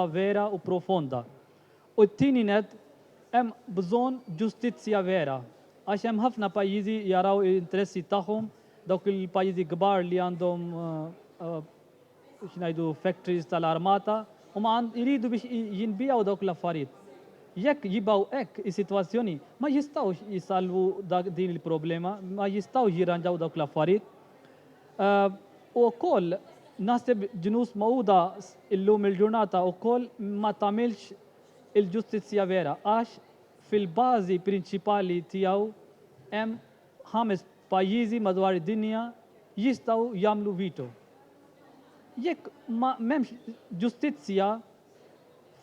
tagħha vera u profonda. U t-tieni nett, hemm bżonn ġustizzja vera, għax hemm ħafna pajjiżi jaraw l-interessi tagħhom, dawk il-pajjiżi kbar li għandhom x'ngħidu factories tal-armata, huma jridu biex jinbiegħu dawk l-affarijiet. Jekk jibgħu hekk is-sitwazzjoni, ma jistgħux isalvu din il-problema, ma jistgħux jirranġaw dawk l-affarijiet. U wkoll naħseb ġnus magħquda illum il-ġurnata wkoll ma tagħmilx il-ġustizzja vera għax fil-bażi prinċipali tiegħu hemm ħames pajjiżi madwar id-dinja jistgħu jagħmlu veto. Jekk ma m'hemmx ġustizzja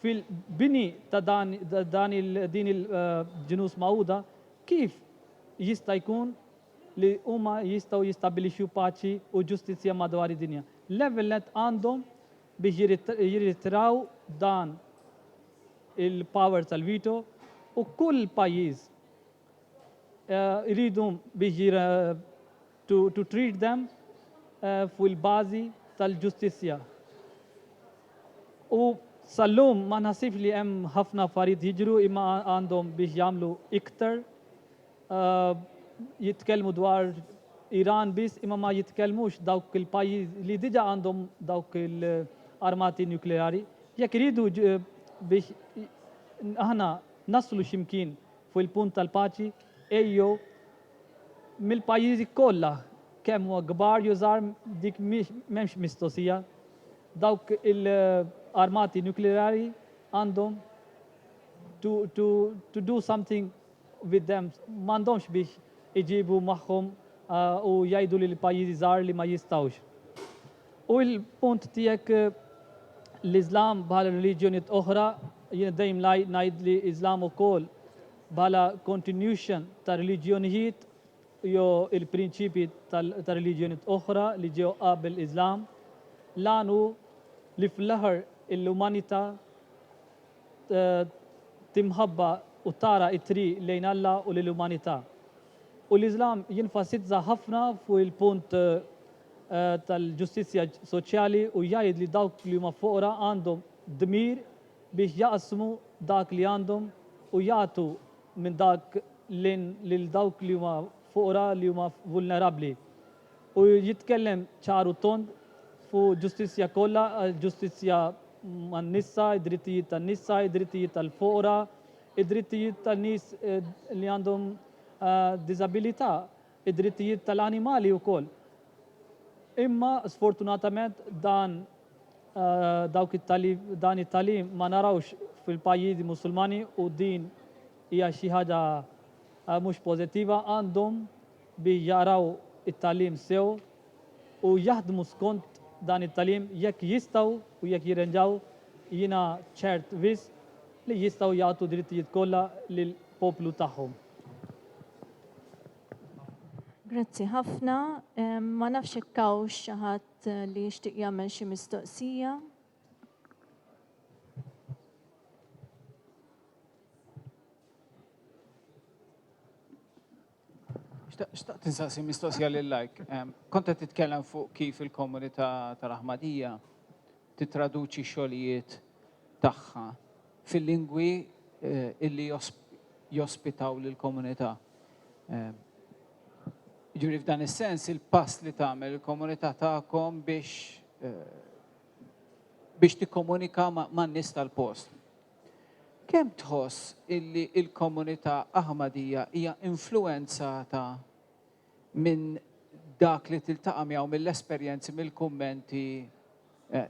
fil-bini ta' dan din il-ġnus magħquda kif jista' jkun li huma jistgħu jistabbilixxu paċi u ġustizzja madwar id-dinja. L-ewwel nett għandhom biex jirritraw dan il-power tal-veto u kull pajjiż iridu biex jir to, to treat them fuq il-bażi tal-ġustizzja. U sal-lum ma naħsibx li hemm ħafna affarijiet jiġru imma għandhom biex jagħmlu iktar. jitkellmu dwar Iran biss imma ma jitkellmux dawk il-pajjiż li diġa għandhom dawk il-armati nukleari. Jekk iridu biex aħna naslu ximkien fuq il-punt tal-paċi ejjew mill-pajjiżi kollha kemm huwa kbar jew żgħar dik m'hemmx mistoqsija. Dawk il-armati nukleari għandhom to, to, to do something bid-demm m'għandhomx biex iġibu magħhom u jgħidu lil pajjiżi żgħar li ma jistgħux. U l-punt tiegħek l-Iżlam bħal reliġjonijiet oħra, jien dejjem ngħid li Iżlam ukoll bħala continuation ta' reliġjonijiet jew il-prinċipji ta' reliġjonijiet oħra li ġew qabel Iżlam, l-għan hu li fl-aħħar l-umanità t'imħabba u t-tara t-triq lejn Alla u lill-umanità. U l-Iżlam jenfasizza ħafna fuq il-punt tal-ġustizzja soċjali u jgħid li dawk li huma foqra għandhom dmir biex jaqsmu dak li għandhom u jagħtu minn dak lil dawk li huma foqra li huma vulnerabbli. u jitkellem ċar u tond fuq ġustizzja kollha, ġustizzja man-nisa, id-drittijiet tan-nisa, id-drittijiet tal-foqra, id-drittijiet tan-nies li għandhom diżabilità, id-drittijiet tal-animali wkoll. Imma sfortunatament dan dawk it-tagħlim dan it-tagħlim ma narawhx fil-pajjiżi Musulmani u din hija xi ħaġa mhux pożittiva. Għandhom bi jaqraw it-tagħlim sew u jaħdmu skont dan it-tagħlim jekk jistgħu u jekk jirrenġaw jiena ċert wisq li jistgħu jagħtu d-drittijiet kollha lill-poplu tagħhom. Grazzi ħafna. Ma nafx jekk hawnx xi ħadd li jixtieq jagħmel xi mistoqsija. Xtaqt insaqsi mistoqsija lil lajk. Kont qed titkellem fuq kif il-komunità tal-Aħmadija tittraduċi x-xogħlijiet tagħha fil-lingwi illi jospitaw lill-komunità. Jiġifieri f'dan is-sens il-pass li tagħmel il-komunità tagħkom biex biex tikkomunika man-nies tal-post. Kemm tħoss illi l-komunità Aħmadija hija influwenzata minn dak li tiltaqa' miegħu mill-esperjenzi, mill-kummenti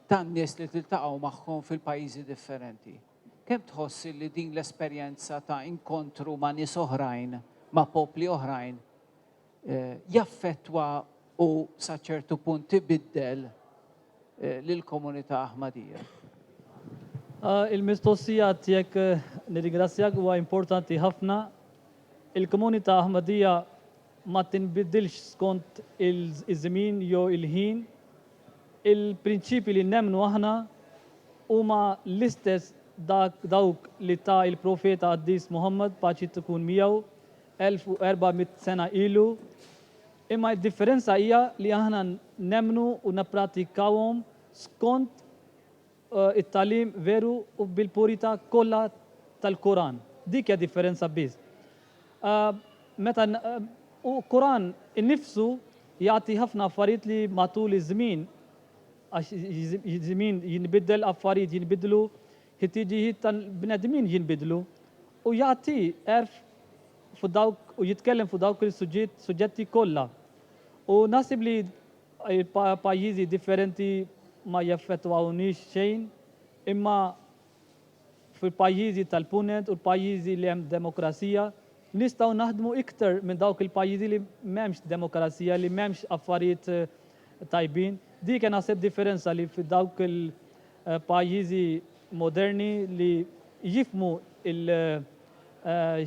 tan-nies li tiltaqgħu magħhom fil-pajjiżi differenti? Kemm tħoss illi din l-esperjenza ta' inkontru ma' nies oħrajn, ma' popli oħrajn, jaffettwa u sa ċertu punt ibiddel lill-komunità Aħmadija. Il-mistoqsija tiegħek nirringrazzjak huwa importanti ħafna. Il-komunità Aħmadija ma tinbidilx skont iż-żmien jew il-ħin. Il-prinċipji li nemmnu aħna huma l-istess dawk li ta il-Profeta Qaddis Muħammad, paċi tkun miegħu, 1,400 sena ilu, imma d-differenza hija li aħna nemmnu u nipprattikawhom skont it-tagħlim veru u bil-purità kollha tal-Quran. Dik hija differenza biss. Meta u Quran innifsu jagħti ħafna affarijiet li matul iż-żmien għax iż-żmien jinbiddel affarijiet jinbidlu Ħtiġijiet tal-bnedmin jinbidlu. U jagħti għerf fuq dawk u jitkellem fuq dawk il-suġġetti kollha. U naħseb li pajjiżi differenti ma jaffettwawniex xejn, imma fil-pajjiżi tal-Punent u l-pajjiżi li hemm demokrazija, nistgħu naħdmu iktar minn dawk il-pajjiżi li m'hemmx demokrazija, li m'hemmx affarijiet tajbin. Dik hija naħseb differenza li f'dawk Pajjiżi moderni li jifhmu il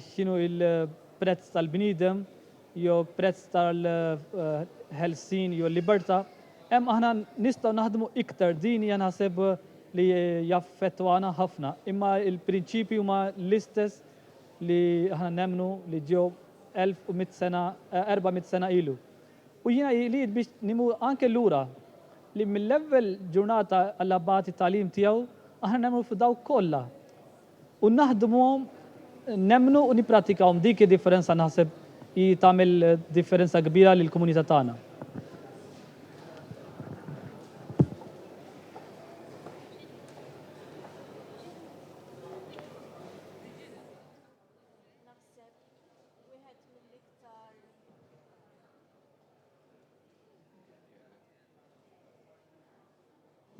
x'inhu il-prezz tal-bniedem jew prezz tal-ħelsien jew l-libertà, hemm aħna nistgħu naħdmu iktar din hija naħseb li jaffettwana ħafna. Imma l-prinċipji huma l-istess li aħna nemmnu li ġew 1100 sena, 400 sena ilu. U jiena jrid biex nimur anke lura, li mill-ewwel ġurnata għall-Abbat it-tagħlim tiegħu, aħna nemmnu f'dawk kollha. U naħdmuhom, nemmnu u nipprattikawhom. Dik id-differenza naħseb hi tagħmel differenza kbira lill-komunità tagħna.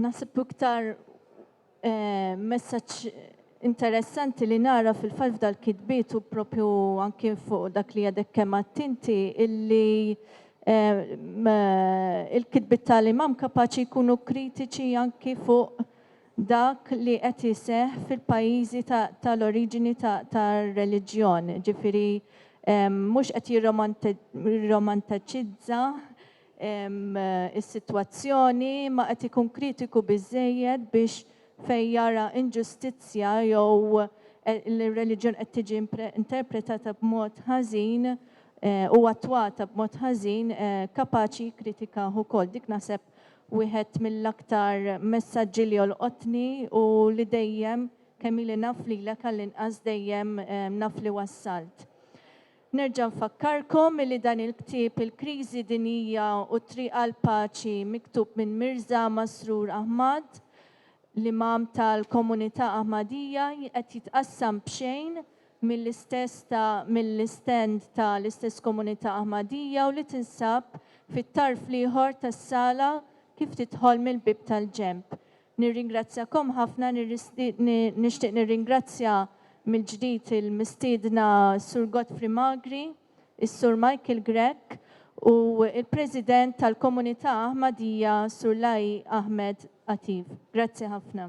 Nasib iktar eh, messaġġ interessanti li nara fil-falf dal-kitbiet u propju anki fuq dak li għadek kemm attinti illi eh, il-kitbit tal-imam kapaċi jkunu kritiċi anki fuq dak li qed iseħħ fil-pajjiżi ta' tal-oriġini ta' tar-reliġjon, ġifieri mhux qed jirromantaċizza s-sitwazzjoni imma qed ikun kritiku biżżejjed biex fejn jara inġustizzja jew li r-reliġjon qed tiġi interpretata b'mod ħażin u attwata b'mod ħażin kapaċi jikkritikah ukoll. Dik naħseb Wieħed mill-aktar messaġġi li jolqotni hu li dejjem, kemm ili naf lilek għall-inqas dejjem naf li wassalt. Nerġa' nfakkarkom li dan il-ktieb Il-Kriżi Dinjija u t-Triq għall-Paċi miktub minn Mirża Masroor Ahmad, l-Imam tal-Komunità Ahmadiyya, qed jitqassam b'xejn mill-istess ta' mill-istand ta' l-istess komunità Ahmadiyya u li tinsab fit-tarf l-ieħor tas-sala kif tidħol mill-bieb tal-ġenb. Nirringrazzjakom ħafna, nixtieq nirringrazzja mill-ġdid il-mistiedna Sur Godfrey Magri, is-Sur Michael Grech u l-President tal-Komunità Ahmadiyya Sur Lai Ahmed Atib. Grazzi ħafna.